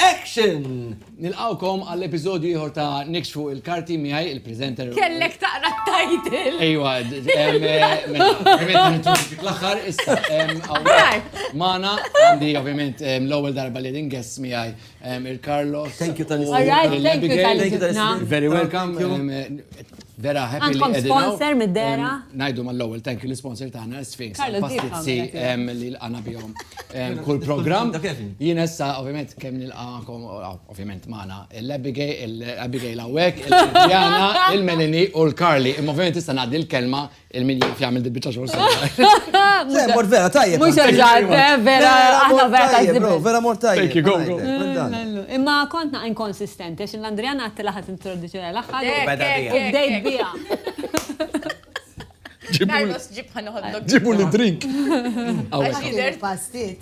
Action! Nilqawkom għall-episodju ieħor ta' Nikx fuq il-karti miegħi il-presenter. Kellek taqra t-title. Ejwa, l-aħħar issa Mana għandi ovvjament l-ewwel darba li din guest miegħi il-Carlos. Thank you tal-istudent. Very welcome. Vera happy li qegħdin hawn. Għandkom sponsor mid-dera? Ngħidu mal-ewwel thank you l-sponsor tagħna Sphinx għall-pastizzi li lqana bihom kull programm. Jien issa ovvjament kemm nilqakom ovvjament magħna l-Abigail hawnhekk, il-Diana, il-Melanie u l-Carly. Imma ovvjament issa ngħaddi l-kelma Il-min jaf jagħmel dil-biċċa xogħol sew. Mort vera tajjeb. Mhux eżatt, eh, vera aħna vera tajjeb. Vera mort tajjeb. Imma kontna inkonsistenti għax l-Andriana għatti laħat introduċjoni l-aħħar. U bdejt biha. Ġibu l-drink. Ġibu l-drink.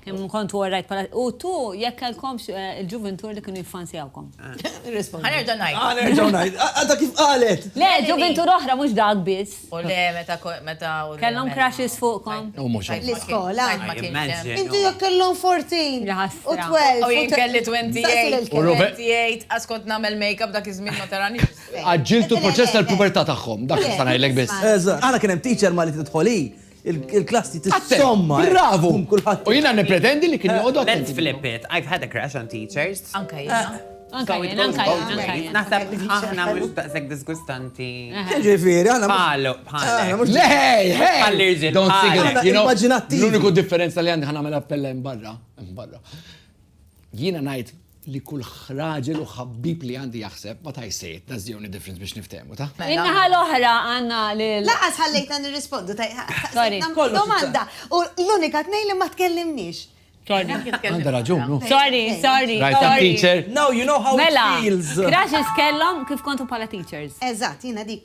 Kemm kont worajt bħala. U tu jekk kellkomx il-ġuvintur li kienu jiffansjawkom. Ħa nerġa' ngħid. Ħa nerġa' ngħid. Għadha kif qalet! Le, ġuvintur oħra mhux dak biss. U le meta meta u. Kellhom crushes fuqkom. U mhux hekk. L-iskola. Inti jekk kellhom 14. Ja ħasra. U 12. U jien kelli 28. U Ruben. 28. Għax kont nagħmel makeup dak iż-żmien ma taranix. Għaġġiltu l-proċess tal-pubertà tagħhom. Dak nista' ngħidlek biss. Eżatt. Aħna kien hemm teacher Malti tidħol hi Il-klassi tissomma. Bravo! U jina nepretendi li kien eh, joqgħod. Let's flip it. I've had a crash on teachers. Anka jina. Eh. Anka jina, anka jina. Naħseb aħna mux taqsek diskustanti. Eh. Ġifiri, għana. Palu, palu. Lej, hej! Għallirġi. Don't sing it. L-uniku differenza li għandi ħana mela appella imbarra. Imbarra. Jiena ngħid li kull raġel u ħabbib li għandi jaħseb, ma tgħidx sejt, that's the only difference biex niftehmu, ta? In-naħa l-oħra għandna lil. Lanqas ħallejtna nirrispondu, staqsejtna domanda u l-unika tnejn li ma tkellimniex. Għandha raġun, hu. Sorry, sorry, sorry. Right, I'm teacher. Now you know how it feels. Mela, crushes kellhom kif kontu bħala teachers. Eżatt, jiena dik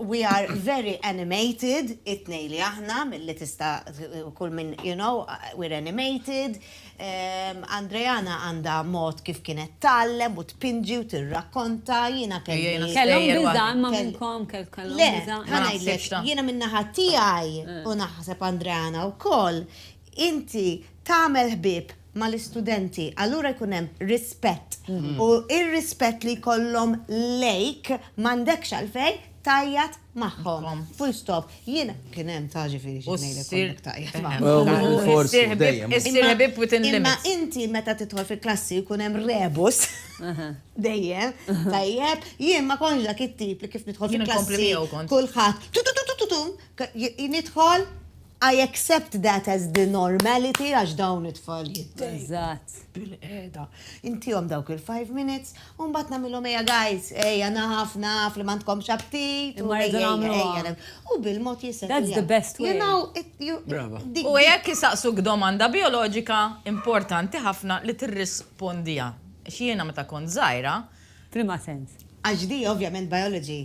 We are very animated, it-tnejn li aħna, milli tista' kull min, you know, we're animated. Andreana għandha mod kif kienet tgħallem u tpinġi u tirrakkonta, jiena kelli. Kellhom biża' imma minnkom kellhom biża'. Le, ħa ngħidlek, jiena min-naħa tiegħi u naħseb Andreana wkoll, inti tagħmel ħbieb mal-istudenti, allura jkun hemm rispett u r-rispett li jkollhom lejk m'għandekx għalfejn tgħajjat magħhom. Full stop. Jien kien hemm ta' ġifieri xi ngħidlek kont qed tgħajjat magħhom. Issir ħbieb within limits. Imma inti meta tidħol fil-klassi jkun hemm rebus dejjem, tajjeb, jien ma kontx dak it-tip li kif nidħol fil-klassi kulħadd tu tu tu tu tu tu, nidħol, I accept that as the normality għax dawn it-tfal jiddejqu. Eżatt. Bil-qiegħda. Intihom dawk il-five minutes u mbagħad nagħmilhom ejja guys, ejja naf, naf li m'għandkomx aptit. Imma rridu nagħmluha. U bil-mod jissettlew. That's the best way. Brava. U jekk isaqsuk domanda bijoloġika, importanti ħafna li tirrispondiha. Għax jiena meta kont żgħira. F'liema sens? Għax di ovvjament biology.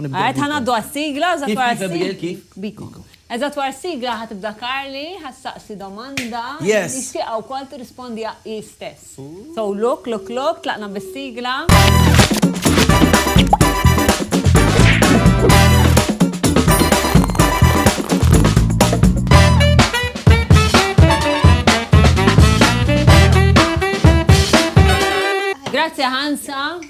Għad ħanaddu għas-sigla, eżatt wara s-sigla. Kif, Abigail, kif? Biko. Eżatt wara s-sigla ħa tibda Carly, ħa ssaqsi domanda. Yes. Nixtieqha wkoll tirrispondiha hi stess. So look, look, look, tlaqna bis-sigla. Grazzi Hansa.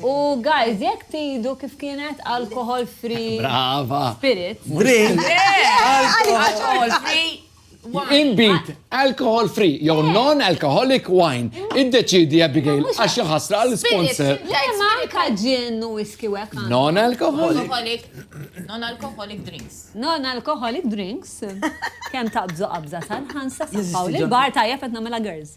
U guys, jekk tgħidu kif kienet alcohol free. Brava. Spirit. Drink. Alcohol free. Inbid, alcohol free, jew eh. non-alcoholic wine. Eh. Iddeċidi Abigail, għax ħasra għal sponsor. Ma anka ġin u whisky wek. Non-alcoholic. Non-alcoholic drinks. Non-alcoholic drinks. Kem taqbżu qabża tal-ħansa safaw li bar tajja fetna mela girls.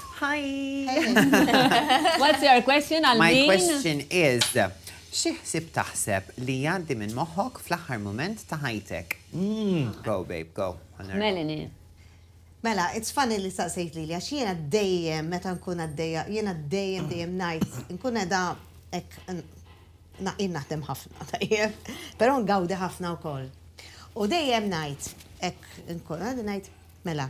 Hi! What's your question għal min? My question is, xi ħsieb taħseb li jgħaddi minn moħħok fl-aħħar mument ta' ħajtek? Go babe, go. Melanie. Mela, it's funny li staqsejt lili għax jiena dejjem meta nkun għaddejja, jiena dejjem dejjem ngħid, nkun qiegħda hekk jien naħdem ħafna tajjeb, però ngawdi ħafna wkoll. U dejjem ngħid hekk nkun qiegħda ngħid, mela,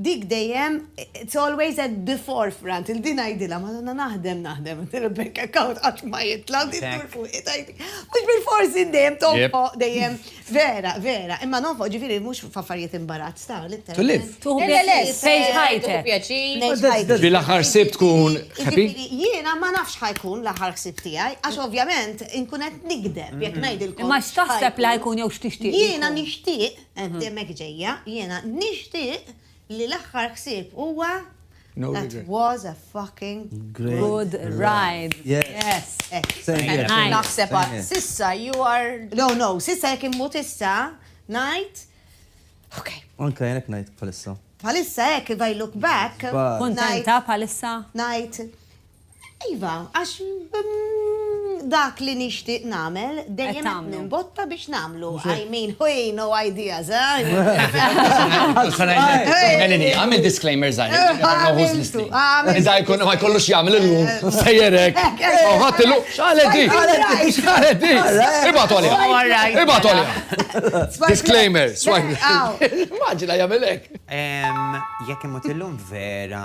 Dik dejjem, it's always at the forefront, il-din ngħidilha, Madonna naħdem, naħdem, il-bank account qatt ma jitla' u din tmur fuq id għajdi. Mhux bil-fors int dejjem tonfoq, dejjem vera, vera, imma nonfoq ġifieri mhux f'affarijiet imbarazz ta' l-inter. To live. Tuħu pjaċir, tgħix ħajtek. Ġifieri l-aħħar ħsieb tkun happy? Jiena ma nafx ħajkun l-aħħar ħsieb tiegħi għax ovvjament inkun qed nigdeb jekk ngħidilkom. Imma x'taħseb li ħajkun jew x'tixtieq? Jiena nixtieq Qed hemmhekk ġejja, jiena nixtieq li l-aħħar ħsieb huwa That was a fucking good ride. Yes. Naħseb għad s'issa you are. No, no, s'issa jekk immut issa ngħid ok. Anke jien hekk ngħid bħalissa. Bħalissa hekk if I look back. Kuntenta bħalissa? Ngħid. Iva, għax dak li nixtieq nagħmel dejjem qed nimbotta biex nagħmlu. I mean, ħuj, no ideas, eh? Għamil disclaimer żgħir. Iżda jkun ma jkollux jagħmel illum, sejjer hekk. Ħadd illum, x'għalet di? X'għalet di? Ibgħatu għaliha. Ibgħatu għaliha. Disclaimer, swipe. Immaġina jagħmel hekk. Jekk imut illum vera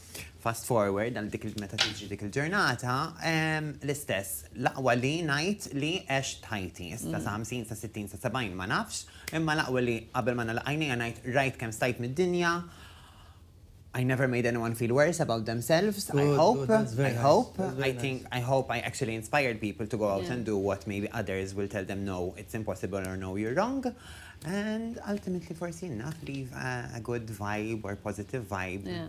Fast forward għal dik meta tiġi dik il-ġurnata, l-istess, l-aqwa li ngħid li għex tħajti, issa sa 50, sa 60, sa 70 ma nafx, imma l-aqwa li qabel ma nagħlaq għajnejja ngħid rajt kemm stajt mid-dinja, I never made anyone feel worse about themselves, I hope, I hope, I think, I hope I actually inspired people to go out and do what maybe others will tell them no, it's impossible or no, you're wrong. And ultimately forsi enough leave a, a good vibe or positive vibe. Yeah.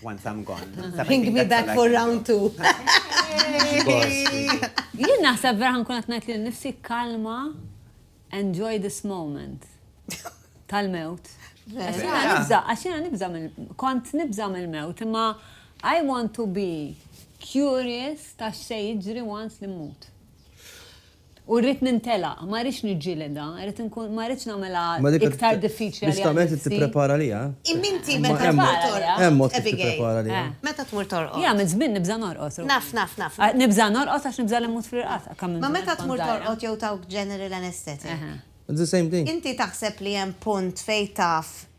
Once I'm gone. Bring me back for round two. Jien naħseb vera ħankun qed ngħid lil nifsi kalma enjoy this moment tal-mewt. Għaxina nibza, għaxina nibza kont nibza mill-mewt, imma I want to be curious ta' xej jiġri once li mut. U rrid nintelaq, ma rridx niġġielidha, rrid inkun, ma rridx nagħmilha iktar diffiċli għalija nnifsi. Imma dik, ġustament, qed tipprepara għaliha. Imma inti meta tmur torqod, Hemm mod kif tipprepara għaliha. Abigail, meta tmur torqod. Jiena minn żmien nibża' norqod, Ruth. Naf, naf, naf. Nibża' norqod għax nibża' li mmut fl-irqad, kemm minn żmien kont żgħira. Imma meta tmur torqod jew tawk general anesthetic. It's the same thing. Inti taħseb li hemm punt fejn taf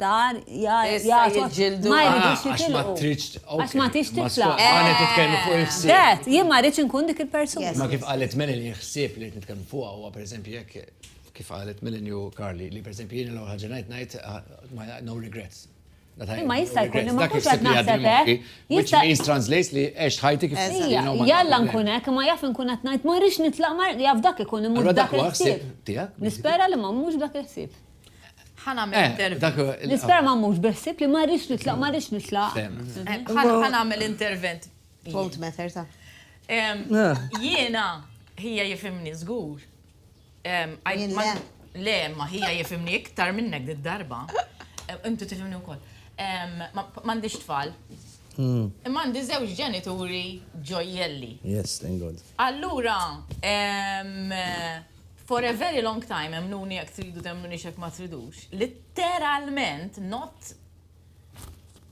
Dar, jgħatu, ma jridux jitilqu. Għax ma tix titla. Għana titkellmu fuq il-ħsib. Għet, jien ma rridx nkun dik il-persuna. Ma kif għalet Melanie il-ħsib li nitkellmu fuq għu, per eżempju, jek kif għalet Melanie u Carly, li per eżempju jien l-għu ħagġa najt najt, no regrets. Ma jista' jkun li ma kux għad naħseb hekk. Which means translates li għex ħajti kif jista' Jalla nkun hekk, ma jaf nkun qed ngħid ma rridx nitlaq ma jaf dak ikun imur dak il-ħsieb. Nispera li ma mhux dak il-ħsieb. ħanamel eh, intervent. Nisperma mhux beħsib li ma rridx nitlaq, ma rridx nitlaq. Eh, ħanamel intervent. Vote matter ta' Jiena hija jifimni żgur. Le, ma hija jifimni iktar minnek did darba. Intu tifimni wkoll. M'għandix tfal. Hmm. Imma għandi żewġ ġenituri ġojjelli. Yes, thank God. Allura, For a very long time, emmnuni jekk tridu temmnunix jekk ma tridux, litteralment not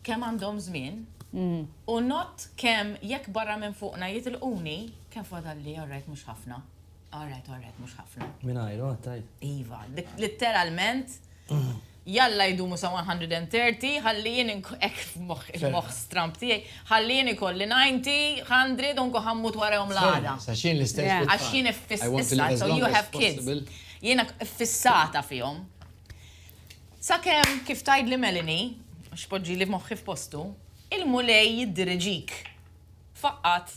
kemm għandhom żmien mm. u not kemm jekk barra minn fuqna jitilquni kemm fadalli alright mhux ħafna. Alright, alright, mhux ħafna. Mingħajru għattaj. Iva, litteralment. Jalla jdumu sa 130 ħalli jien inkun hekk f'moħħi, il-moħħ stramb tiegħi, ħalli jien ikolli 90, 100 u nkun ħa mmut warahom l-għada. Għax jien l-istess bit-tfal. Għax jien iffissat, so you have kids. Jiena iffissata fihom. Sakemm kif tgħidli Melanie, għax poġġili moħħi f'postu, il-Mulej jiddiriġik. Faqqat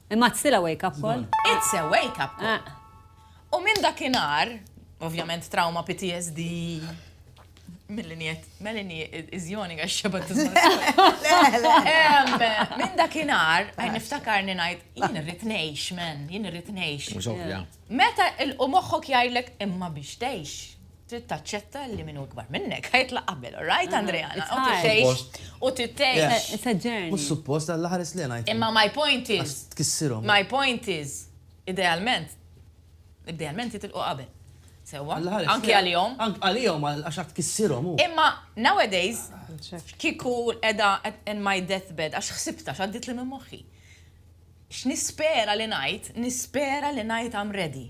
Imma it's still a wake up call. It's a wake up call. U minn dakinhar, ovvjament trauma PTSD mill-linjet, Melanie is yawning għax xebat Minn dakinhar, għaj niftakar ninajt, jien irrit ngħix, men, jien irrit ngħix. Meta il-qu moħħok jgħidlek imma biex tgħix. trid taċċetta li min hu ikbar minnek ħa jitlaq qabel, all right, Andrea? It's hard. U tgħix, u trid tgħix. Yeah. It's a journey. Mhux suppost, dan l-aħħar is li ngħid. Imma my point is. Għax tkissirhom. My point is, idealment, idealment jitilqu qabel. Sewwa? L-aħħar is. Anki għalihom. Anki għalihom għax għad tkissirhom hu. Imma nowadays, kieku edha in my deathbed, għax ħsibta x'għaddit li minn moħħi. X'nispera li ngħid, nispera li ngħid I'm ready.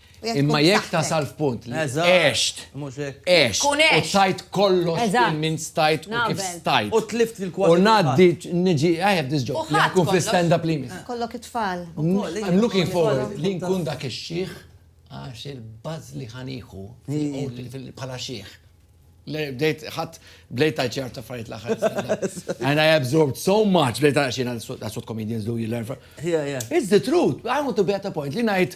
Imma jekk tasal f'punt li għext, għext, u tajt kollox kemm min stajt u kif stajt. U tlift fil-kważi. U ngħaddi niġi, I have this job, jekk inkun fl-istand up li jmiss. Kollok it-tfal. I'm looking forward li nkun dak ix-xiħ għax il-buzz li ħa nieħu bħala xiħ. Bdejt ħadd bdejt tajt xi affarijiet l-aħħar. And I absorbed so much, bdejt tajt xi that's what comedians do, you learn from. It's the truth. I want to be at a point li ngħid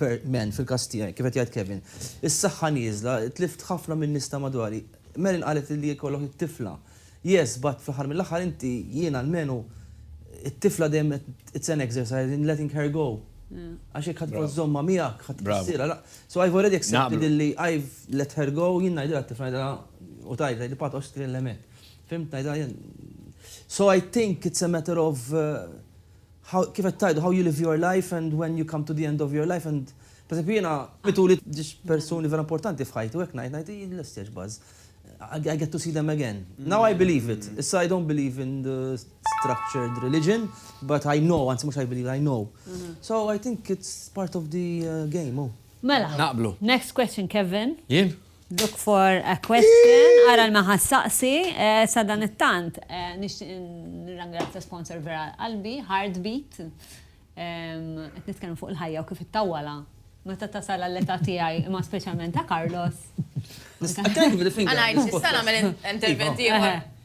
per man, fil-każ tiegħi, kif qed jgħid Kevin. Is-saħħa nieżla, tlift ħafna minn nies ta' madwari. Marin qalet li jkollok it-tifla. Yes, but fl-aħħar mill-aħħar inti, jien almenu, it-tifla dejjem qed, it's an exercise in letting her go. Għax jekk ħadd tbqa' żżommha miegħek, ħadd tħassirha, la. So I've already accepted illi I've let her go, jien ngħidilha t-tifla, ngħidilha, u tgħid, tgħidli Pat għoxx tkellemek. Fhimt, ngħidilha jien. So I think it's a matter of, How, kif qed tgħidu, how you live your life and when you come to the end of your life and pereżempju jiena mituli ġiex persuni vera importanti f'ħajti u hekk ngħid ngħid hi lest jgħix Buzz. I get to see them again. Now I believe it. Issa I don't believe in the structured religion but I know, anzi mhux I believe, I know. So I think it's part of the game, hu. Mela. Naqblu. Next question, Kevin. Jien? Look for a question, ara l-ma ħa ssaqsi, sadanittant nixtieq nirrangrazzja sponsor vera qalbi, Heartbeat. Qed nitkellmu fuq il-ħajja u kif ittawwalha meta tasal għall-età tiegħi, imma speċjalment ta' Carlos. Thank you for the finger. Għanajt, nista' nagħmel intervent ieħor?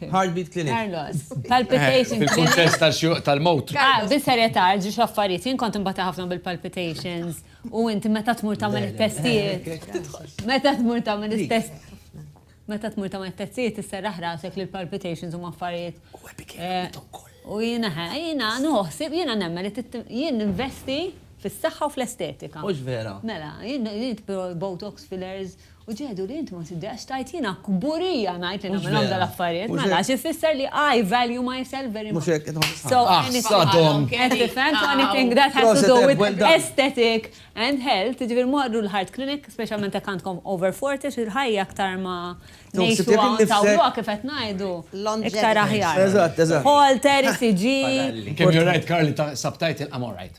Heartbeat Clinic. Carlos, palpitations clinic. Fil-kuntest tal-xjuq tal-mewt. Ah, bis-serjetà, ġiex l-affarijiet. Jien kont imbata ħafna bil-palpitations u inti meta tmur tagħmel it-testijiet. Meta tmur tagħmel it-testijiet. Meta tmur tagħmel it-testijiet isserraħ rasek li l-palpitations huma affarijiet. U epikejt ukoll. U jiena ħa, jiena nuħsib, jiena nemmen li jien ninvesti fis-saħħa u fl-estetika. Mhux vera. Mela, jien nitbgħu botox fillers. U ġehdu li int ma tiddejaqx tgħid jiena kburija ngħid li nagħmel dawn l-affarijiet, mela għax ifisser li I value myself very much. So anything, qed tifhem, so anything that has to do with aesthetic and health, jiġifieri morru l-heart clinic, speċjalment jekk għandkom over 40 xi l-ħajja aktar ma ngħixu hawn tawwluha kif qed ngħidu, iktar aħjar. Eżatt, eżatt. Holter, ECG. Kemm you're right Karl, inti sabt tgħid I'm alright.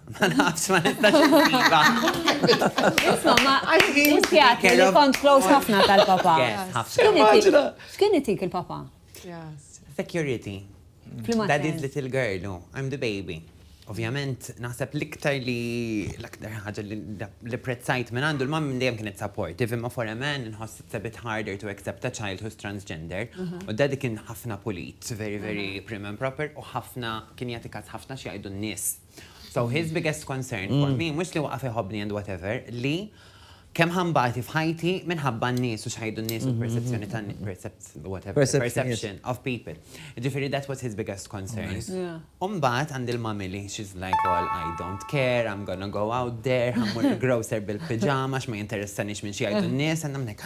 Ma nafx, ma nistax insiba. Isma, ma inzjat li kont close ħafna tal-papa. X'kien itik il-papa? Security. Daddy's little girl, oh, I'm the baby. Ovvjament, naħseb l-iktar li l-aktar ħaġa li prezzajt minn għandu l-mam dejjem kienet supportive, imma for a man nħoss it's a bit harder to accept a child who's transgender. Mhm. U daddy kien ħafna pulit, very, very mhm. prim and proper, u ħafna kien jagħti każ ħafna xi jgħidu n-nies So his biggest concern for me, mhux li waqaf iħobbni and whatever, li kemm ħa nbati f'ħajti minħabba n-nies u x'ħajdu n-nies u l-perċezzjoni tan whatever, perception of people. Ġifieri that was his biggest concern. U mbagħad għandi l-mami li she's like all I don't care, I'm gonna go out there, ħammur il-grocer bil-pijama x'ma jinteressanix minn xi jgħidu n-nies and I'm like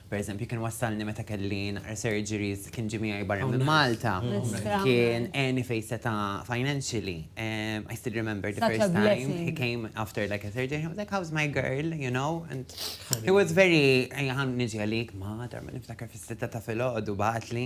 Pereżempju, kien wassalni meta kelli naqra surgeries, kien ġie miegħi barra minn Malta, kien għeni fejn seta' financially, I still remember the first time he came after like a surgery, he was like, how's my girl, you know, and he was very, ejja ħa niġi għalik, ma, darba niftakar fis-sitta ta' filgħodu bagħatli.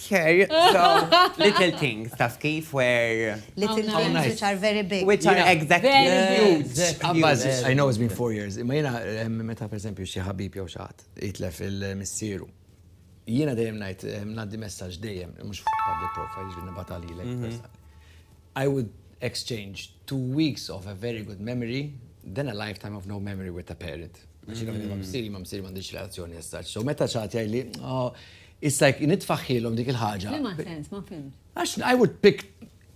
Care, so little things, taf kif, where. Little things which are very big. Which are exactly. I know it's been four years, imma jiena meta per eżempju xi ħabib jew xi ħadd jitlef il-missieru, jiena dejjem ngħid ngħaddi messaġġ dejjem, mhux fuq public profile, jiġifieri nibgħatha lilek personali. I would exchange two weeks of a very good memory than a lifetime of no memory with a parent. Għax jiena ma' missieri, ma' missieri m'għandix relazzjoni as such. So meta xi ħadd jgħidli, oh, Issa jekk nitfaħħilhom dik il-ħaġa. F'liema sens, ma fhimtx? Għax I would pick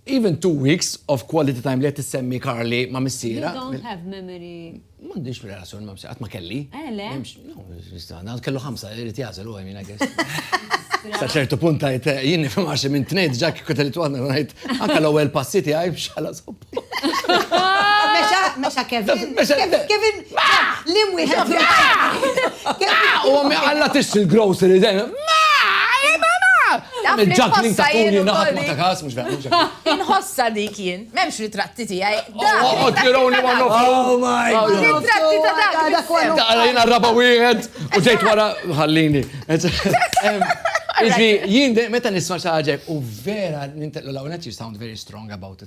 even two weeks of quality time li qed issemmi Karli ma' missierha. You don't have memory. M'għandix relazzjoni ma' missierha, qatt ma kelli. Eh le? Għad kellu ħamsa, irid jagħżel u I mean I guess. Sa ċertu punt għajt, jien nifhem għax minn tnejn ġa kieku telit waħda ngħid anke l-ewwel passi tiegħi biex ħalas Mexa, mexa Kevin. Kevin, li mwiħed. U għammi għalla tix il-grocery den. Il-ġakling ta' kuni naħat ma ta' kas, mux vera. Inħossa dik jien, memx ritratti ti għaj. Oh, tironi ma nofsu. Oh my god. Ritratti ta' dak. Ta' għalajn għarraba wieħed u ġejt wara ħallini. Iżvi, jien meta nisma xaġek u vera nintellu l-għonet you sound very strong about it.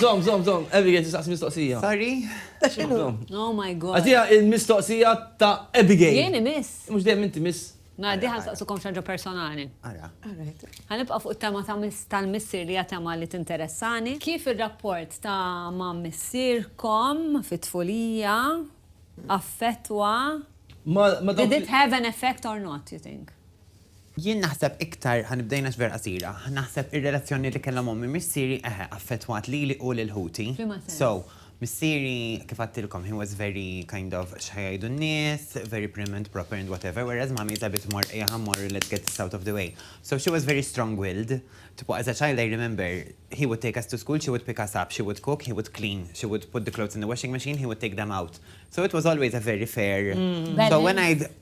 Żomm, żomm, żomm, Abigail tistaqsi mistoqsija. Sorry? Ta' x'inhu? Oh my God. Agħtiha l-mistoqsija ta' Abigail. Jien imiss? Mhux dejjem int imiss. Mela din ħa nsaqsukom xi ħaġa personali. Ara. Ħa nibqa' fuq it-tema tal-missier li hija tema li tinteressani. Kif ir-rapport ta' ma' missierkom fit-tfulija affettwa, did it have an effect or not, you think? Jien naħseb iktar, ħa nibda jien għax vera qasira, naħseb ir-relazzjoni li kellhom ommi missieri eħe affettwat lili u lil ħuti. F'liema sens? So, missieri kif għadtilkom he was very kind of x'ħa jgħidu n-nies, very prim and proper and whatever whereas mommy is a bit more ejja ħa mmorru let's get this out of the way. So she was very strong willed, tipo as a child I remember he would take us to school, she would pick us up, she would cook, he would clean, she would put the clothes in the washing machine, he would take them out. So it was always a very fair, so when I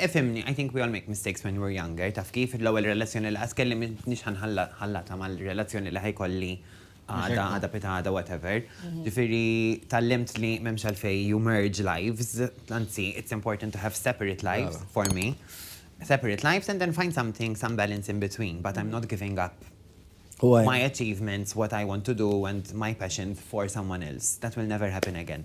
Ifhimni, I think we all make mistakes when we're younger, taf kif, l-ewwel relazzjoni li qatt kelli m'iniex ħa nħallatha mal-relazzjoni li ħa jkolli għada, għada pitgħada, whatever. Ġifieri tgħallimt li m'hemmx għalfejn you merge lives, anzi it's important to have separate lives, for me, separate lives and then find something, some balance in between, but I'm not giving up my achievements, what I want to do and my passions for someone else. That will never happen again.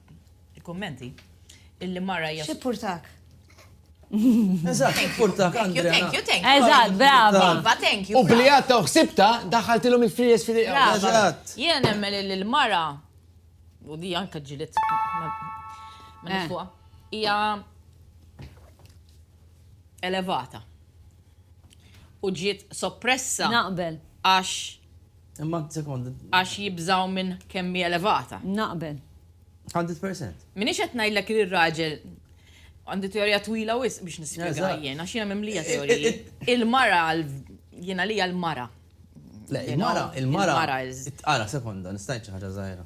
Il-kummenti. Illi mara hija. X'ippurtak? Eżatt, x'ippurtak Andrea. Thank you, thank you. Eżatt, brava. Iva, thank you. U bli għatta u ħsibta, daħħaltilhom il-fries fil Eżatt. Jiena nemmen li l-mara u di anka ġilit ma eh. fuqa. Hija elevata. U ġiet soppressa. Naqbel. Għax Imma sekonda. Għax jibżgħu minn kemm hi elevata. Naqbel. Hundred percent. M'iniex qed ngħidlek li r-raġel għandi teorija twila wisq biex nispjegha jien, għax jiena mimlija teoriji. Il-mara jiena għalija l-mara. Le, il-mara, il-mara. Ara, sekonda, nista' ngħid xi ħaġa żgħira.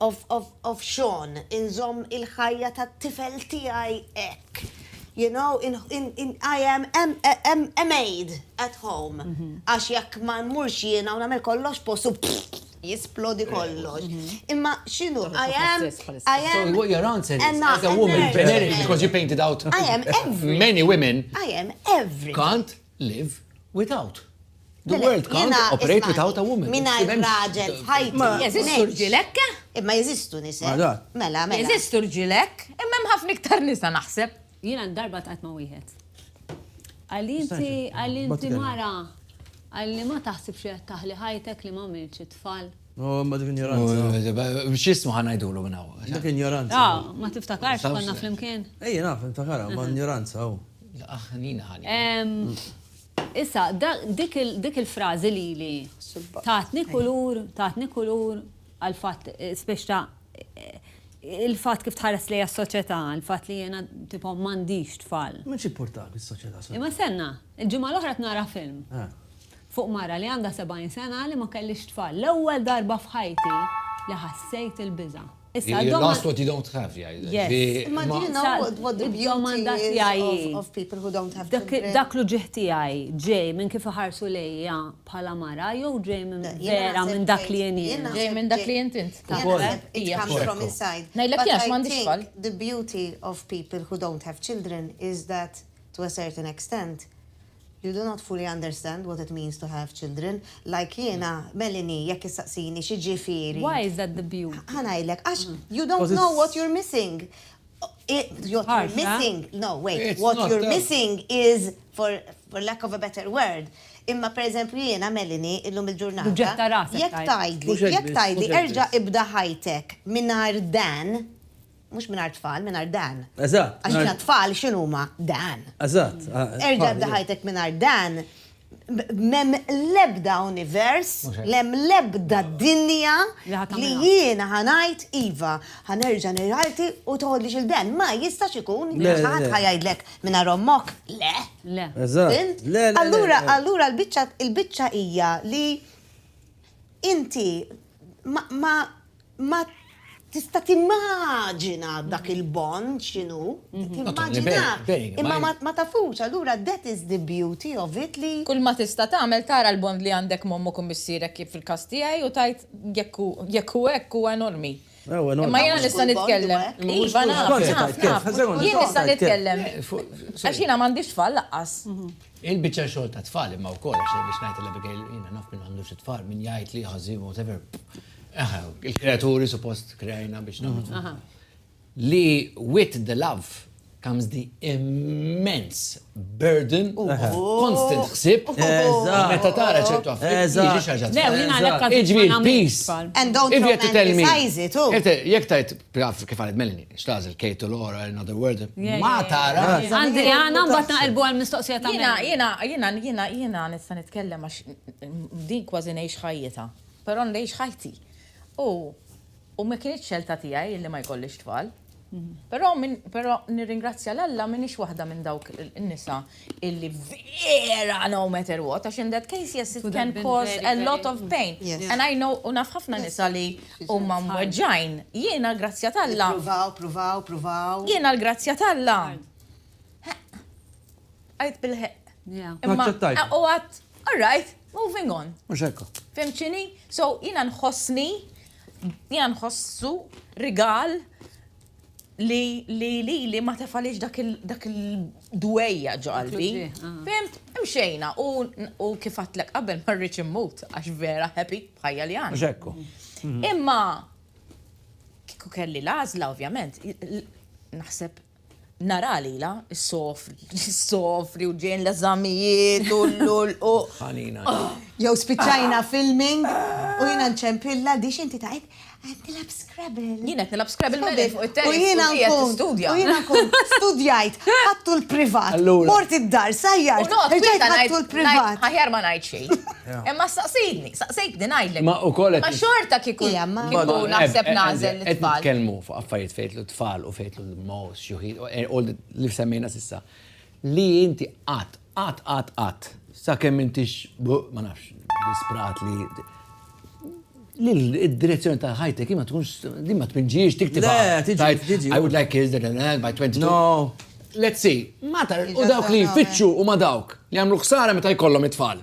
Of of of Sean, inżomm il-ħajja tat-tifel tiegħi hekk. You know, in in in I am am am a maid at home. Għax jekk ma mmurx jiena u nagħmel kollox postu jisplodi kollox. Imma x'inhu, I am I am So what your answer is, Emma, as a woman, Emma. generically, because you painted out I am every- many women, I am everything. kant live without. The world can't operate without a woman. Mina raġel f'ħajti. Ma jeżistu rġilek? Imma jeżistu nisa. Mela, mela. Jeżistu rġilek, imma hemm ħafna iktar nisa naħseb. Jiena darba tqajt ma' wieħed. Għalinti, għalinti mara, għalli ma taħsibx li qed taħli ħajtek li ma milċi tfal. Ma dik injoranza. X'ismu ħa ngħidulu minn hawn? Dik injoranza. Ma tiftakarx konna flimkien? Ejja naf, niftakarha, ma injoranza hu. Aħ, nina ħani. Issa, dik il-frażi lili tatni kulur, tatni kulur għall-fatt spiex ta' il-fatt kif tħares lejja s-soċjetà, il-fatt li jiena tipo m'għandix tfal. M'għandx jippurtak is-soċjetà. Imma stenna, il-ġimgħa l-oħra qed nara film. Fuq mara li għandha 70 sena li ma kellhiex tfal. L-ewwel darba f'ħajti li ħassejt il-biża'. Issa d-domanda. You lost what you don't have jgħidlek. Yes. Imma din id-domanda tiegħi hi. Dak l-uġigħ tiegħi ġej minn kif iħarsu lejja bħala mara jew ġej minn vera minn dak li jien hi? Ġej minn dak li int int. Ngħidlek jien għax m'għandix tfal. The beauty of people who don't have children is that to a certain extent You do not fully understand what it means to have children, like jiena, Melanie, jekk issaqsini xi ġifieri. Why is that the beau? Ħa ngħidlek, għax you don't know what you're missing. What you're missing, no wait, what you're missing is, for lack of a better word, imma per eżempju jiena, Melanie, illum il-ġurnata. Tuġġetta rasek tgħid. Jekk tgħidli, jekk tgħidli erġa' ibda ħajtek mingħajr Dan, Mhux mingħajr tfal, mingħajr dan. Eżatt. Għax mingħajr tfal x'inhuma dan. Eżatt. Erġa' bda ħajtek mingħajr dan mem lebda univers, lem lebda dinja li jiena ħanajt Iva, ħanerġa niralti u toħodli xil-ben. Ma jistax ikun, ħadd ħajajdlek minna rommok, le. Le. Le. Allura, allura l-bicċa il-bicċa hija li inti ma Ma tista' timmaġina dak il-bond x'inhu, timmaġinah, imma ma tafux, allura that is the beauty of it li. Kull ma tista' tagħmel tara l-bond li għandek m'ommok u missierek kif fil-każ tiegħi u tgħid jekk hu jekk hu hekk huwa enormi. Imma jiena nista' nitkellem. Iva naf, naf, naf. Jien nista' nitkellem. Għax jiena m'għandix tfal lanqas. Il-biċċa xogħol tat-tfal imma wkoll għax biex ngħid il-Abigail jiena naf min m'għandux it-tfal, min jgħid li ħażin whatever. Aha, il-kreaturi suppost kreajna biex nagħmlu. Li with the love comes the immense burden of constant ħsib. Meta tara ċertu affarijiet. Iġvi peace. And don't romanticize it. Jek tajt, kif għalet Melanie, xtażil Kate Laura, another word. Ma tara. Għandi għana mbatt naqilbu għal-mistoqsija ta' Jena, jena, jena, jena, jena, nista nitkellem għax din kważi nejx ħajjeta. Però ngħix ħajti. U u ma kinitx xelta tiegħi illi ma jkollix tfal. Però però nirringrazzja l Alla m'iniex waħda minn dawk in-nisa illi vera no matter what, għax in that case yes it can cause a lot of pain. And I know u naf ħafna nisa li huma mweġġgħin. Jien għall-grazzja ta' Alla. Ippruvaw, pruvaw, pruvaw. Jien għall-grazzja ta' Alla. Għidt bil-ħeqq. Imma u għadt, all right. Moving on. Mux ekku. Fimċini? So, jina nħossni, jina nħossu rigal li li li li ma tefalix dak il-dwejja ġo qalbi. Ah. Fimt, imxejna u kif għatlek qabel ma rridx immut għax vera happy bħajja li għan. Ġekku. Mhm. Imma kiku kelli lażla ovvjament, naħseb Nara lilha ssofri u ġejn l-eżamijiet u l-lulqu. Ħanina. Jew spiċċajna filming u jiena nċempilla di x'inti tgħid qed nilgħab Scrabble. Jiena qed nilgħab Scrabble mela fuq it-terri. U jiena nkun studja. U jiena nkun studjajt, ħadtu l-privat. Mort id-dar, sajjar. Irġajt ħadtu l-privat. Aħjar ma ngħid xejn. Imma staqsejtni, staqsejtni ngħidlek. Ma ukoll. Ma xorta kieku naħseb nagħżel it-tfal. Qed nitkellmu fuq affarijiet fejtlu tfal u fejtlu l-most xjuħin, all the li semmejna s'issa, li inti qatt, qatt, qatt, qatt, sakemm m'intix, ma nafx, disprat li li l-direzzjoni ta' ħajtek ma tkunx, li ma tpinġiex tiktib. I would like kids that are by 22. No. Let's see, ma ta' u dawk li jfittxu u ma dawk li għamlu ħsara meta jkollhom it-tfal.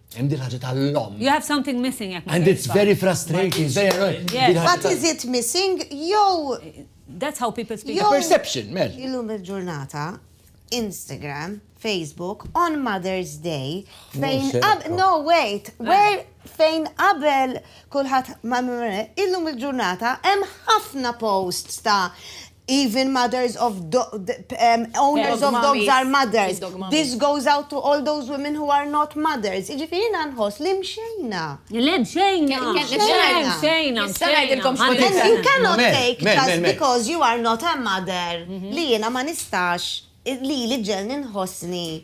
Hemm din ħaġa tal-lom. You have something missing jekk. And it's very frustrating, it's very annoying. What is it missing? Yo. That's how people speak. Yo. Perception, mel. Illum il-ġurnata, Instagram, Facebook, on Mother's Day, fejn no wait, eh. where fejn qabel kulħadd ma illum il-ġurnata hemm ħafna posts ta' Even mothers of owners of dogs are mothers. This goes out to all those women who are not mothers. Iġifiri jina nħos li mxejna. Le mxejna. Mxejna. Mxejna. Mxejna. You cannot take just because you are not a mother li jina ma nistax li li ġelni nħosni.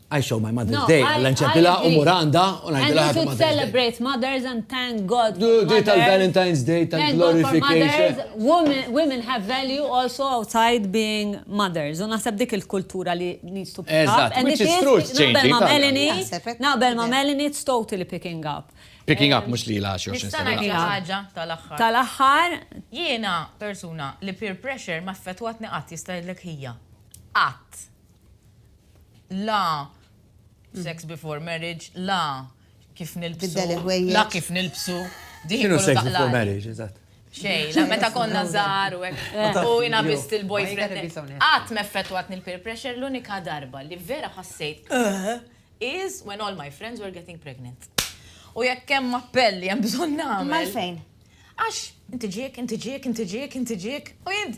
I show my mother's day, għallan ċempila u muranda u najdila ħaġa. And celebrate mothers and thank God. Di tal-Valentine's Day, tal-glorification. Women have value also outside being mothers. U naħseb dik il-kultura li needs to pick up. And it is naqbel ma' Melanie, naqbel ma' Melanie, it's totally picking up. Picking up, mux li laxi. Nistana ħaġa tal-axħar. Tal-axħar. Jiena persuna li peer pressure ma' fetwatni għat jista' ħija. Għat. la sex before marriage, la kif nilbsu. Tibdel il-ħwejjeġ. La kif nilbsu. Diħi X'inhu kollu sex before taqlaqli. marriage, eżatt? Xejn, la meta konna żgħar u hekk. U jiena biss il-boyfriend. Qatt m'effettwatni l-peer pressure, l-unika darba li vera ħassejt is when all my friends were getting pregnant. U jekk hemm appell li hemm bżonn nagħmel. Mal-fejn? Għax, inti ġiek, inti ġiek, inti ġiek, inti ġiek, u jien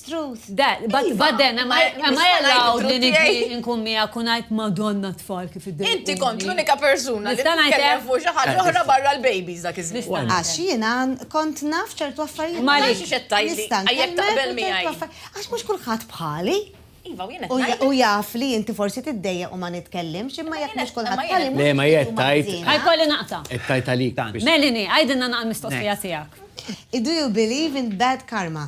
Truth. But then, am I allowed li nidri nkun mija kun għajt madonna tfal kif id Inti kont l-unika persuna li t-kellem fuq xaħġa oħra barra l-babies dak iż-żmien. Għax jiena kont naf ċertu affarijiet. Ma li xettajli, għajjek taqbel mi għaj. Għax mux kullħat bħali. Iva, u jena. U jaf li inti forsi t-dejja u ma nitkellimx, imma jek mux kullħat bħali. Le, ma jett tajt. Għaj kolli naqta. Tajt għalik. Melini, għajdinna naqal mistoqsija tijak. Do you believe in bad karma?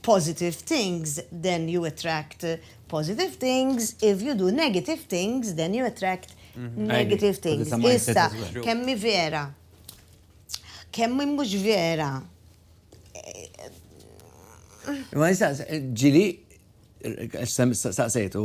positive things, then you attract positive things, if you do negative things, then you attract negative things. Issa, kemmi vera, kemmi mhux vera. Ma jistaqs, ġili, saqsejtu,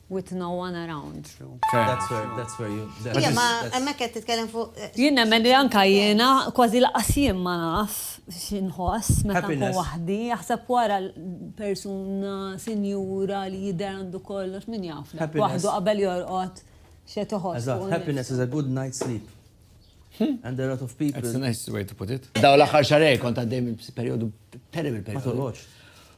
With no one around. That's where, that's where you... Ija, ma emmek qed titkellem fuq. Eh, jien nemmen li anka jiena kważi laqas jien ma naf x'inħoss meta nkun waħdi, jaħseb wara persuna sinjura li jidher għandu kollox min jaf. Waħdu qabel jorqod xe toħos. Happiness is a good night's sleep. Hmm? And a lot of people. That's a nice way to put it. Daw l-aħħar xarej kont għaddej minn periodu terrible periodu.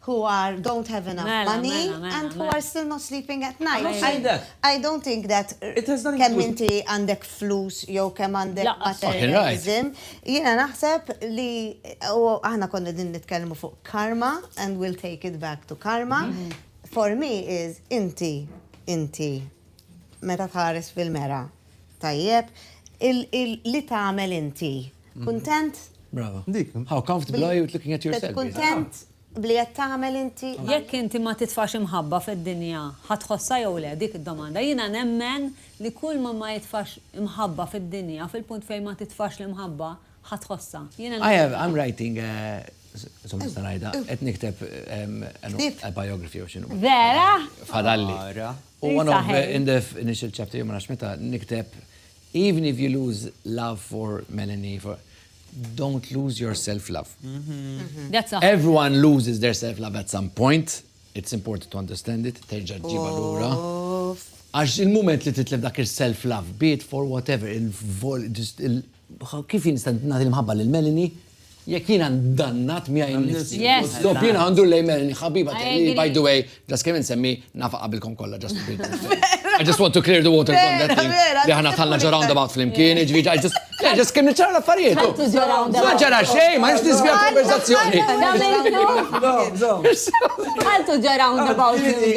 who are don't have enough money and who are still not sleeping at night. I don't think that kemm inti għandek flus jew kemm għandek materialism. Jiena naħseb li u aħna konna qegħdin nitkellmu fuq karma and we'll take it back to karma. For me is inti inti meta tħares fil-mera. Tajjeb, li tagħmel inti. Kuntent? Brava. Dik. How comfortable are you with looking at yourself? Kuntent bli qed tagħmel inti? Jekk inti ma titfax imħabba fid-dinja, ħa tħossha jew le? Dik id-domanda. Jiena nemmen li kull min ma jitfax imħabba fid-dinja, fil-punt fejn ma titfax l-imħabba, ħa tħossha. Jiena nemmen. I'm writing a, insomma nista' ngħidha, qed nikteb a biography jew x'inhu. Vera? Fadalli. U one of the, in the initial chapter, jien ma nafx meta, nikteb, even if you lose love for Melanie, for, don't lose your self-love. That's all. Everyone loses their self-love at some point. It's important to understand it. Terġa ġiba l-ura. Għax il-moment li titlef dak il-self-love, be it for whatever, Kif jien nista' nagħti l-imħabba lil Melanie jekk jiena ndannat miegħi nnifsi? Dopp jiena għandu lejn Melanie ħabiba tiegħi, by the way, ġas kemm insemmi nafa qabilkom kollha ġas. I just want to clear the water from that thing li aħna tħallna ġo roundabout flimkien, ġifieri I just Le, ġas kemm niċċara l-affarijiet. Ma ġara xejn, ma nix nisbja konversazzjoni. Għaltu ġara roundabout flimkien.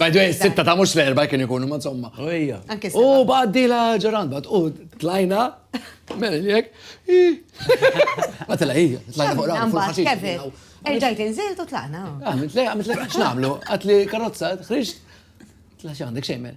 By the way, sitta ta' mux l-erba kien ikunu, ma insomma. Ejja. U baddi la ġoran, bad, u tlajna, mela jek, ma tela ija, tlajna fuq rawn, fuq Kevin, erġajt inżilt u tlajna. Għamit le, għamit le, xnamlu, għatli karozza, xriġt, tla xandek xejmen.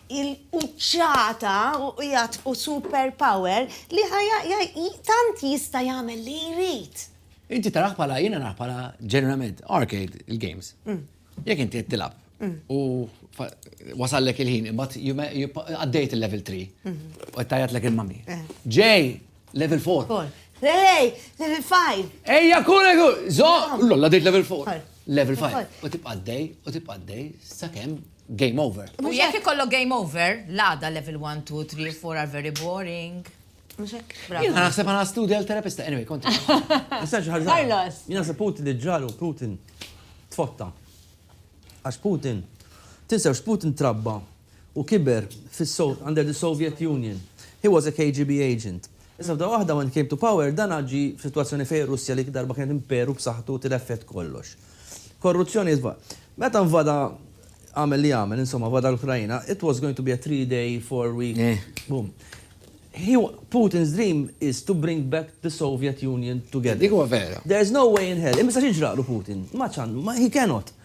il-quċċata u qiegħed u super power li tant jista' jagħmel li jrid. Inti tarah bħala, jiena narah bħala ġeneralment arcade il-games. Jekk inti qed tilgħab u wasallek il-ħin imbagħad għaddejt il-level three u qed tgħajjatlek il-mummy. Ġej! Level 4. Four. Lej, level 5. Ejja kule ku! Zo! Lolla dejt level 4. Four. Level 5. Four. U tibqa' dej, u tibqa' dej, sakemm game over. U jekk ikollok game over, l-għada level 1, 2, 3, 4 are very boring. Mhux hekk? Jien Bravo. naħseb għana studja l-terapista, anyway, konti. Nista' xi ħaġa? Carlos. Jien naħseb Putin li ġralu Putin tfotta. Għax Putin, tinsewx Putin trabba Hu kiber fis-Sowv. Under the Soviet Union. He was a KGB agent. Iżda f'daqqa waħda when he came to power, dan għad ġie f'sitwazzjoni fejn ir-Russja li dik id-darba kienet imperu b'saħħtu tilef f'jedd kollox. Korruzzjoni jitfa'. Meta nvada għamel li għamel, insomma vada l-Ukraina, it was going to be a three day, four week, boom. He wa, Putin's dream is to bring back the Soviet Union together. Dik huwa vera. There's no way in hell. Imma ma jistax jiġraqlu Putin. Ma ċan, ma, he cannot.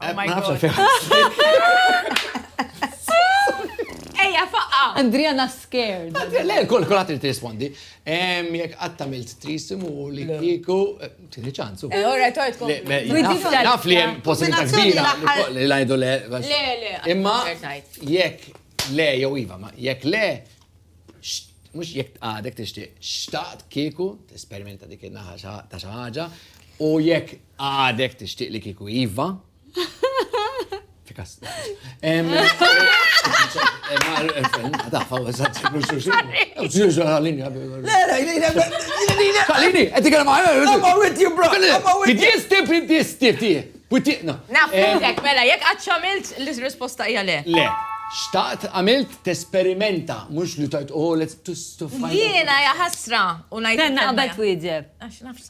Oh my god. Ejja, faqqa! Andriana scared. Le, kol kolħat li t-rispondi. Jek għattamilt trisim u li kiku, eh, tini ċansu. Eh, ora, tort kom. Naf li jem possibilità kbira li lajdu le. Le, le. Imma, jek le, jow iva, ma jek le, mux jek għadek t-ixti, xtaqt kiku, t-esperimenta dik il-naħa ta' xaħġa, u jek Għadek tixtieq li kieku iva? Tikas. Kalini, għedik għal maħna. I'm all with you, bro. Bidjesti, bidjesti, ti. Butiqna. Naftek, mela, jek għadċamilt l-risposta hija le. Le. Xtaqt għamilt t-esperimenta, mux li tajt, oh, let's to find. Jiena jaħasra, u najt. Tenna għabet wieġeb. Għax nafs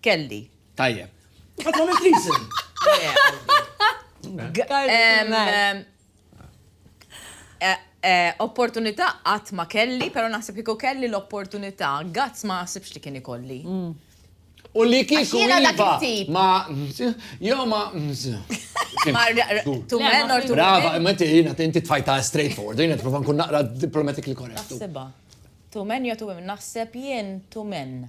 Kelli. Tajjeb. Qatt ma milt isem. Eh, eh, opportunità qatt ma kelli, pero naħseb kieku kelli l-opportunità, gazz ma naħsibx li kien ikolli. Mm. U li kieku jiva ma jo ma Tu men or tu Brava, ma ti jina tinti tfajta straight forward, jina t-prova nkun naqra diplomatically correct. Naħseba. Tu men jo tu men, naħseb jien tu men.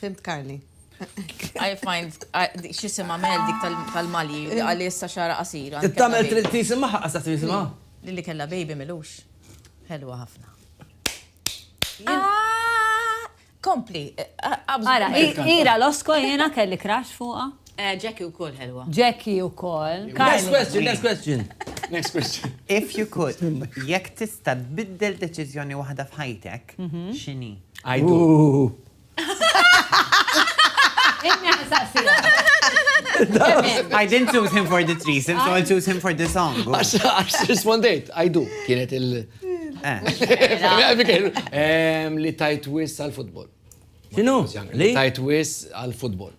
Fimt Karli. I find, xisima Mel dik tal-Mali, għalli issa xara qasira. Tittamel trid tisima ħaqqa sa tisima. Lilli kella baby milux. Helwa ħafna. Ah! Kompli. Ara, ira l-osko jena kelli crash fuqa. Eh, Jackie u koll ħelwa. Jackie u koll. Next question, next question. Next question. If you could, jekk tista tbiddel deċizjoni waħda f'ħajtek, mhm. xini? Għajdu. Inna saqsija. I didn't choose him for this reason, so I'll choose him for this song. Għax rispondejt, I do, kienet il- eh. Li tajt wis għal-futbol. Xinu? Li tajt wis għal-futbol.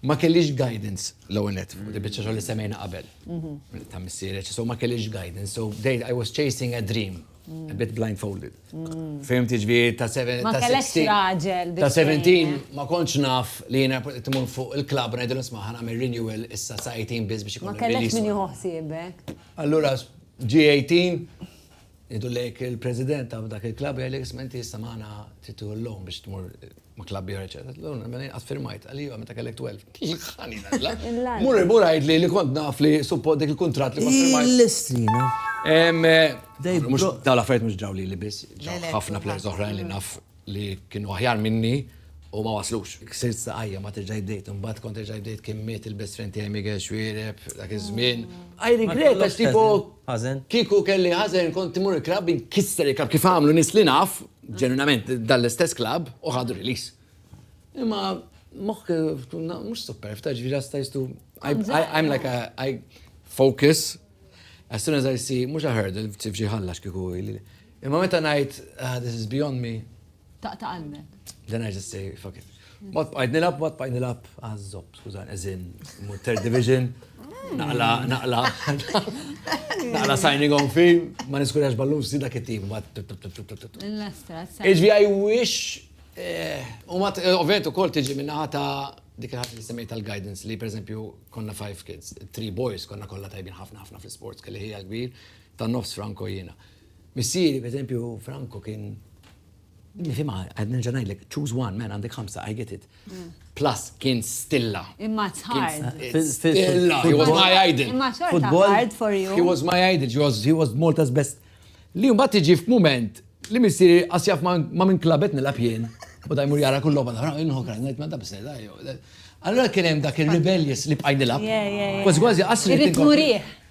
Ma kellix guidance l-ewwel net, di biċċa xogħol li semmejna qabel. Ta' missieri, so ma kellix guidance, so I was chasing a dream, a bit blindfolded. Fehmt jiġifieri ta' 17. Ma kellekx raġel. Ta' 17 ma kontx naf li jiena tmur fuq il-klabb u ngħidilhom sma' ħanagħmel renewal issa sa 18 biss biex ikun. Ma kellekx min jieħu ħsiebek. Allura ġie 18, Ngħidu lejk il-President ta' dak il-klabb jgħidlek isma' inti issa magħna trid tieħu l-loan biex tmur ma' klabb ieħor eċċetera. Tgħidlu le, mela jien qatt firmajt. Qal li iva meta kellek 12. Tilqani l-għaġla. Mur imur għidli li kont naf li suppott dik il-kuntratt li kont firmajt. Hi l-istrina. Dawn l-affarijiet mhux ġraw lili biss, ġraw ħafna players oħrajn li naf. li kienu aħjar minni u ma waslux. Ksirt saqajja, ma terġa' jdejt, imbagħad kont terġa' jdejt kien miet il-best friend tiegħi Miguel Xuereb dak iż-żmien. I regret għax tipo kieku kelli ħażen kont immur il-klabb inkisser il-klabb kif għamlu nies li naf, ġenwinament dan l-istess klabb u ħadu release. Imma moħħ mhux sopperfta, ġifieri just I used to I'm like a I focus as soon as I see mhux a hurdle f'xi ħalla x'kieku. Imma meta ngħid ah, this is beyond me. Taqta' qalbek. Then I just say fuck it. Ma tbqajt nilab, ma tbqajt nilab, għazzob, ah, skużan, eżin, third division, naqla, naqla, naqla signing on fi, ma niskurjax ballun si dak it-tim, ma Iġvi I wish, eh, u ma eh, ovvijament u kol tiġi minna ħata dik ħat li semmejt tal-guidance li per eżempju konna five kids, three boys konna kolla tajbin ħafna ħafna fl-sports kelli ħija kbir, ta' nofs Franco jina. Missieri, pereżempju, Franco kien nifhimha, qed nerġa' ngħidlek, choose one, man għandek ħamsa, I get it. Plus kien stilla. Imma it's hard. Stilla, he was my idol. Imma xorta hard for you. He was my idol, he was Malta's best. Li mbagħad tiġi f'mument li missieri qas jaf ma' minn klabet nilgħab jien. U da jmur jara kull logħba nara, inħu krajt ngħid ma' da biss Allura kien hemm dak ir-rebellious li bqaj nilgħab. Kważi kważi qasri. Irrid nurih.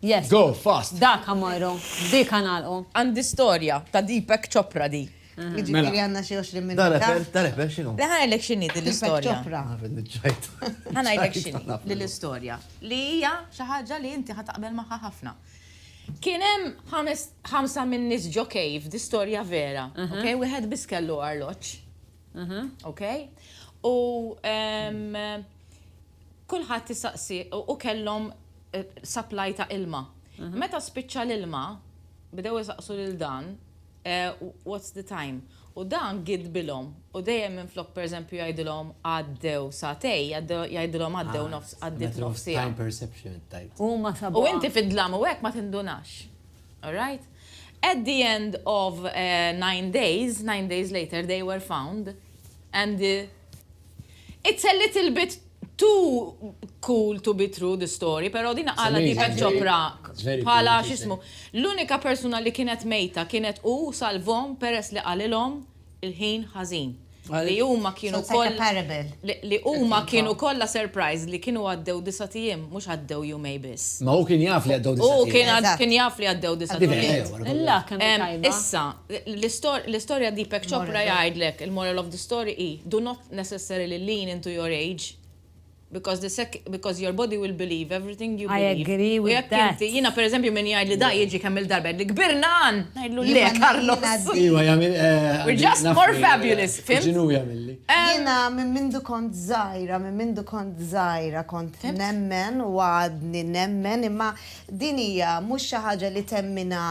Yes. Go fast. Dak ha mmorru. B'dik ha nagħlqu. Għandi storja ta' Deepak Chopra di. Jiġifieri għandna xi 20 minuta. Dan reper, dan reper x'inhu? Le ħa ngħidlek x'inhi din l-istorja. Deepak Chopra. Naf li ġġajt. Ħa ngħidlek x'inhi din l-istorja. Li hija xi ħaġa li inti ħa taqbel magħha ħafna. Kien hemm ħames, ħamsa min-nies ġo cave, di storja vera, ok? Wieħed biss kellu arloġġ. Ok? U kulħadd tistaqsi u kellhom eh, supply ta' ilma. Mhm. Meta spiċċa l-ilma, bdew jisaqsu lil dan, eh, what's the time? U dan gid bilhom u dejjem minn flok pereżempju jgħidilhom għaddew satej, jgħidilhom għaddew ah, nofs għaddit nofs Time perception tajt. U ma sabu. U inti fid-dlam u hekk ma tindunax. All right? At the end of nine days, nine days later, they were found and the It's a little bit too cool to be true the story, pero din għala Deepak Chopra bħala xismu. L-unika persuna li kienet mejta kienet u salvom peress li qalilhom il-ħin ħażin. Li huma kienu kollha. Li huma kienu kollha surprised li kienu għaddew disgħat ijiem mhux għaddew jumej biss. Ma hu kien jaf li għaddew disgħat ijiem. Hu kien jaf li għaddew disgħat ijiem. Issa, l-istorja Deepak Chopra jgħidlek il-moral of the story hi do not necessarily lean into your age. Because the sec, because your body will believe everything you believe. I agree with that. U jekk inti, jina per eżempju min jgħid li da jiġi kemm il-darba li kbirna għan, ngħidlu le Carlos. Iwa jagħmel. Eh, We're just more fabulous, fim? Ġinu jagħmilli. Jina minn mindu kont żgħira, minn mindu kont żgħira kont nemmen u għadni nemmen imma din hija mhux xi ħaġa li temmina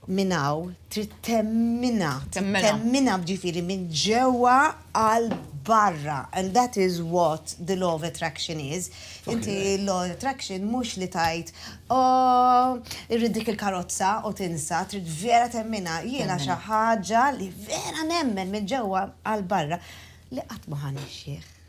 Minn hawn trid temminha, temminha ġifieri minn ġewwa għal barra and that is what the law of attraction is. Inti l-law of attraction mhux li tgħid ooh irrid dik il-karozza u tinsa, trid vera temminha. Jiena xi ħaġa li vera nemmen minn ġewwa għal barra li qatt ma ħa nixxieħ.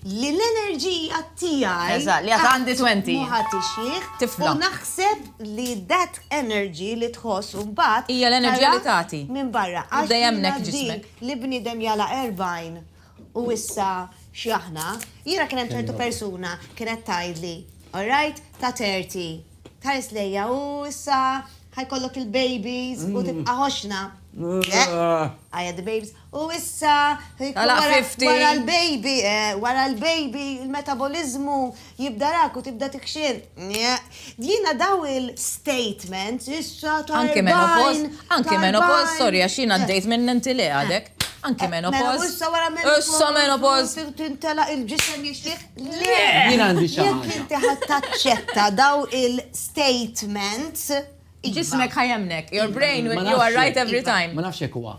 Li l-enerġija tiegħi. Eżatt, li għad għandi twenty. Qatt ma ħa tixjieħ. Tifla. U naħseb li that energy li tħoss u mbagħad. Hija l-enerġija li tagħti. Tara minn barra. Għax jiena din. Tibda hemmhekk ġismek. Li bniedem jagħlaq erbgħin u issa x'aħna. Jiena kien hemm ċertu persuna kienet tgħidli, all right, ta' thirty, tħares lejja u issa ħa jkollok il-babies u tibqa' ħoxna. Le, I had the babies. U issa, wara l-baby, wara l-baby, il-metaboliżmu jibdarak u tibda tikxir. Jiena dawn il-statements, issa ta' Anki menopoz, anki menopoz, sorry, għax jiena għaddejt minn inti le għadek. Anki menopoz. Issa wara menopoz. Issa menopoz. Tintela il-ġisem jixtieq. Le! Jiena għandi xaħġa. Jekk inti ħadd taċċetta daw il-statements. Ġismek ħajemnek. Your brain, you are right every time. Ma nafx jekk huwa.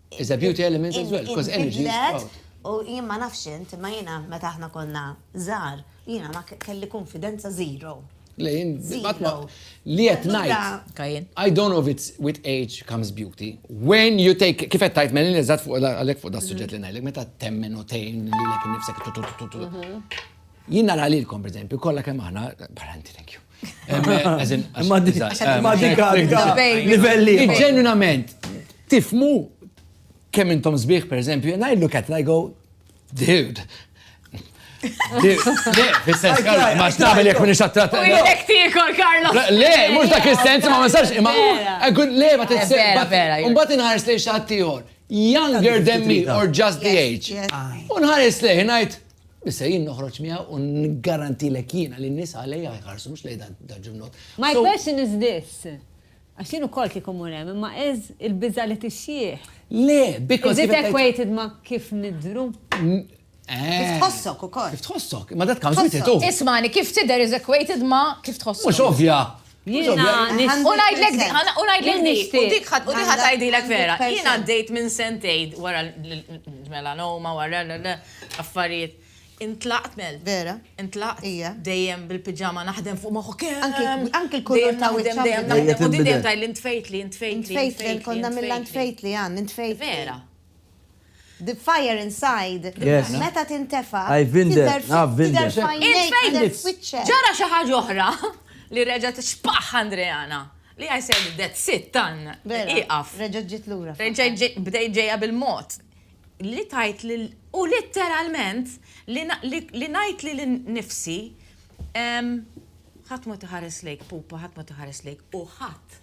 It's a beauty element as well, because energy is proud. U jien ma nafx int, ma jiena meta aħna konna żgħar, jiena ma kelli konfidenza zero. Le, jien li qed ngħid. I don't know if it's with age comes beauty. When you take kif qed tajt melin eżatt fuq għalhekk fuq da suġġett li ngħidlek meta temmen u tgħin lilek innifsek. Jien nara lilkom, per eżempju, kollha kemm aħna, barra inti, thank you. Ma dika, livelli. Ġenwinament, tifmu kemm intom sbieħ, per eżempju, and I look at it, I go, dude, Le, fil-sens, Karlo, ma xnabel jek minix għattrat. U jek tikol, Karlo. Le, mux dak il-sens, ma ma sarx, ma. Għun, le, ma t-sens. Un bat inħares li xaħtiħor, younger than me, or just the age. Unħares li, najt, Issa jien noħroġ miegħu u niggarantilek jiena li n-nies għalejja jħarsu mhux lejn dan ġimnot. My question is this. Għax jien ukoll kieku mmur hemm, imma is il-biża' li tixjieħ. Le, because. Is it equated ma' kif nidhru? Kif tħossok ukoll. Kif tħossok, imma that comes with it too. Ismagħni, kif tidher is equated ma' kif tħossok. Mhux ovvja, Jiena nixtieq. U ngħidlek di, u ngħidlek di, u dik ħadd tgħidilek vera. Jiena għaddejt minn sentejn wara l-melanoma, wara l-affarijiet. Intlaqt mel. Vera. Intlaqt. Ija. Dejjem bil-piġama naħdem fuq moħħok. Anki l-kulur ta' wiċċ. Dejjem naħdem, u dejjem tgħidli ntfejtli, ntfejtli. Ntfejtli, konna mill-ntfejtli għan, ntfejtli. Vera. The fire inside, meta tintefa', tidher f'għajnejk, tidher f'wiċċek. Ġara xi ħaġa oħra li reġgħet xpaħ Andreana, li I said that's it, done, ieqaf. Reġgħet ġiet lura. Reġgħet bdejt ġejja bil-mod li tgħid lil, u litteralment li ngħid lili nnifsi, ħadd ma tħares lejk pupa, ħadd ma tħares lejk u ħadd.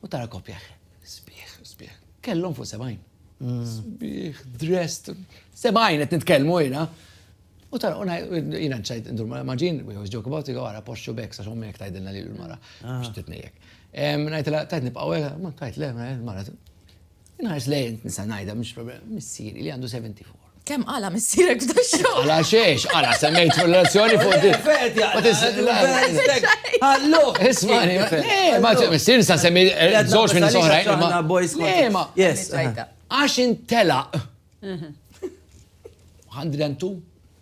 U tara koppja sbieħ, sbieħ. Kellhom fuq sebgħin. Sbieħ, dressed, sebgħin qed nitkellmu jiena. U tara, u jiena nċajt ndur mara maġin, we always joke about it, għara poxxu bek, sax ommek tajdilna li l-mara, biex titnejjek. Najtila, tajt nibqaw, ma tajt le, mara, Inħares lej int nisa ngħidha mhix problema, missieri li għandu 74. Kemm qala missierek f'da xogħol? Għala xiex, għala semmejt fil-relazzjoni fuq di. Għallu! Ismani, ma missier sa semmi żewġ minn soħrajn. Ma boys ma. Yes. Għax intelaq. 102?